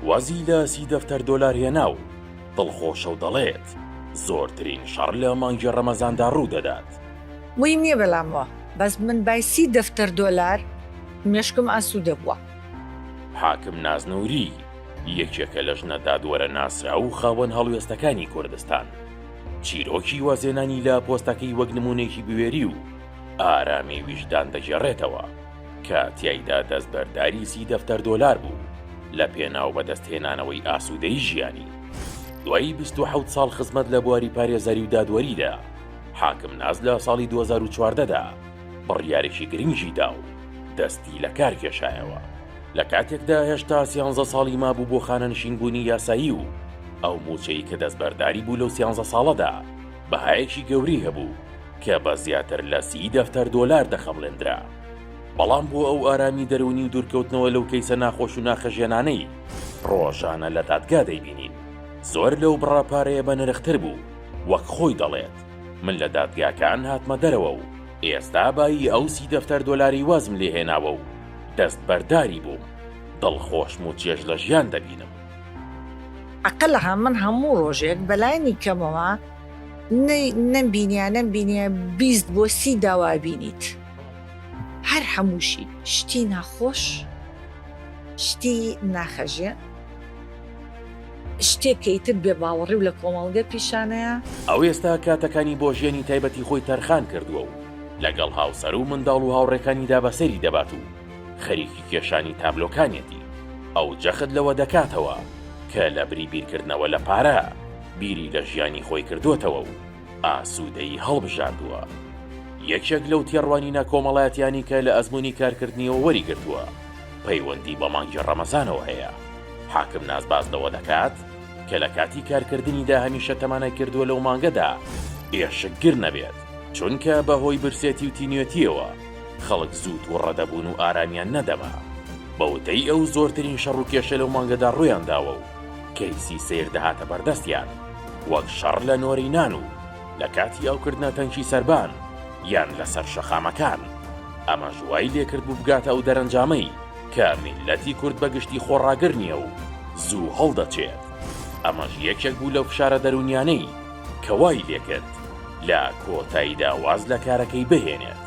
وازی لە سی دەفتەر دۆلار هێنا و دڵخۆشە و دەڵێت، زۆرترین شەڕ لە مانگی رەمەزاندا روودەدات. وەی نیە بەلام وە بەس من بای سی دەفتەر دۆلار مێشکم ئاسودە بوە. حاکم ناز نوری، یەکێکە لە ژنە دادوەرە ناسراو و خاوەن هەڵوێستەکانی کوردستان. چیرۆکی وازهێنانی لە پۆستەکەی وەک نموونەیەکی بوێری و ئارامی ویژدان دەگێڕێتەوە. کە تیایدا دەستبەرداری سی دەفتەر دۆلار بوو لە پێناو بەدەستهێنانەوەی ئاسوودەی ژیانی. دوای بیست و حەوت ساڵ خزمەت لە بواری پارێزەری و دادوەریدا، حاکم ناز لە ساڵی دوو هەزار و چواردە دا بڕیارێکی گرنگی دا و دەستی لە کار کێشایەوە، لە کاتێکدا هێشتا سیانزە ساڵی مابوو بۆ خانەنشینبوونی یاسایی و ئەو مووچەی کە دەستبەرداری بوو لەو سیانزە ساڵەدا بەهایەکی گەورەی هەبوو. کە بە زیاتر لە سی دەفتەر دۆلار دەخەمڵێندرا. بەڵام بۆ ئەو ئارامی دەروونی و دوورکەوتنەوە لەو کەیسە ناخۆش و ناخهەژێنانەی ڕۆژانە لە دادگا دەیبینین، زۆر لەو بڕە پارەیە بەنرختر بوو، وەک خۆی دەڵێت، من لە دادگاکان هاتمە دەرەوە و ئێستا بایی ئەو سی دەفتەر دۆلاری وازم لێهێناوە و دەستبەرداری بووم، دڵخۆشم و چێژ لە ژیان دەبینم. عەقلها من هەموو ڕۆژێک بەلانی کەمەوە. نەم بینیە نەم بینیە بیست بۆ سی داوا بینیت هەر هەمووشی شتی ناخۆش شتی ناخەژێ شتێکەی تر بێ باوەڕی و لە کۆمەڵگە پیشانەیە. ئەو ئێستا کاتەکانی بۆ ژیانی تایبەتی خۆی تەرخان کردووە و لەگەڵ هاوسەر و منداڵ و هاوڕێکانیدا بەسەری دەبات و خەریکی کێشانی تابلۆکانیەتی، ئەو جەخت لەوە دەکاتەوە کە لەبری بیرکردنەوە لە پارە، بیری لە ژیانی خۆی کردۆتەوە و ئاسوودەیی هەڵبژاردووە. یەکێک لەو تێڕوانینە کۆمەڵاتیانی کە لە ئەزموونی کارکردنیەوە وەریگرتووە، پەیوەندی بە مانگی ڕەمەزانەوە هەیە. حاکم نازباز لەوە دەکات کە لە کاتی کارکردنیدا هەمیشە تەمانای کردووە لەو مانگەدا ئێشکگر نەبێت، چونکە بە هۆی برسێتی و تینوێتییەوە خەڵک زوو توڕە دەبوون و ئارامیان نەدەما. بە وتەی ئەو، زۆرترین شەڕ و کێشە لەو مانگەدا ڕوویانداوە و، کەیسی سیر دەهاتە بەردەستیان وەک شەڕ لە نۆرەی نان و لە کاتی ئاوکردنە تەنکی سەربان یان لەسەر شەقامەکان، ئەمەش وای لێکردبوو بگاتە ئەو دەرەنجامەی کە میللەتی کورد بە گشتی خۆڕاگر نییە و زوو هەڵدەچێت، ئەمەش یەکێک بوو لەو فشارە دەروونیانەی کە وای لێکرد لە کۆتاییدا واز لە کارەکەی بهێنێت.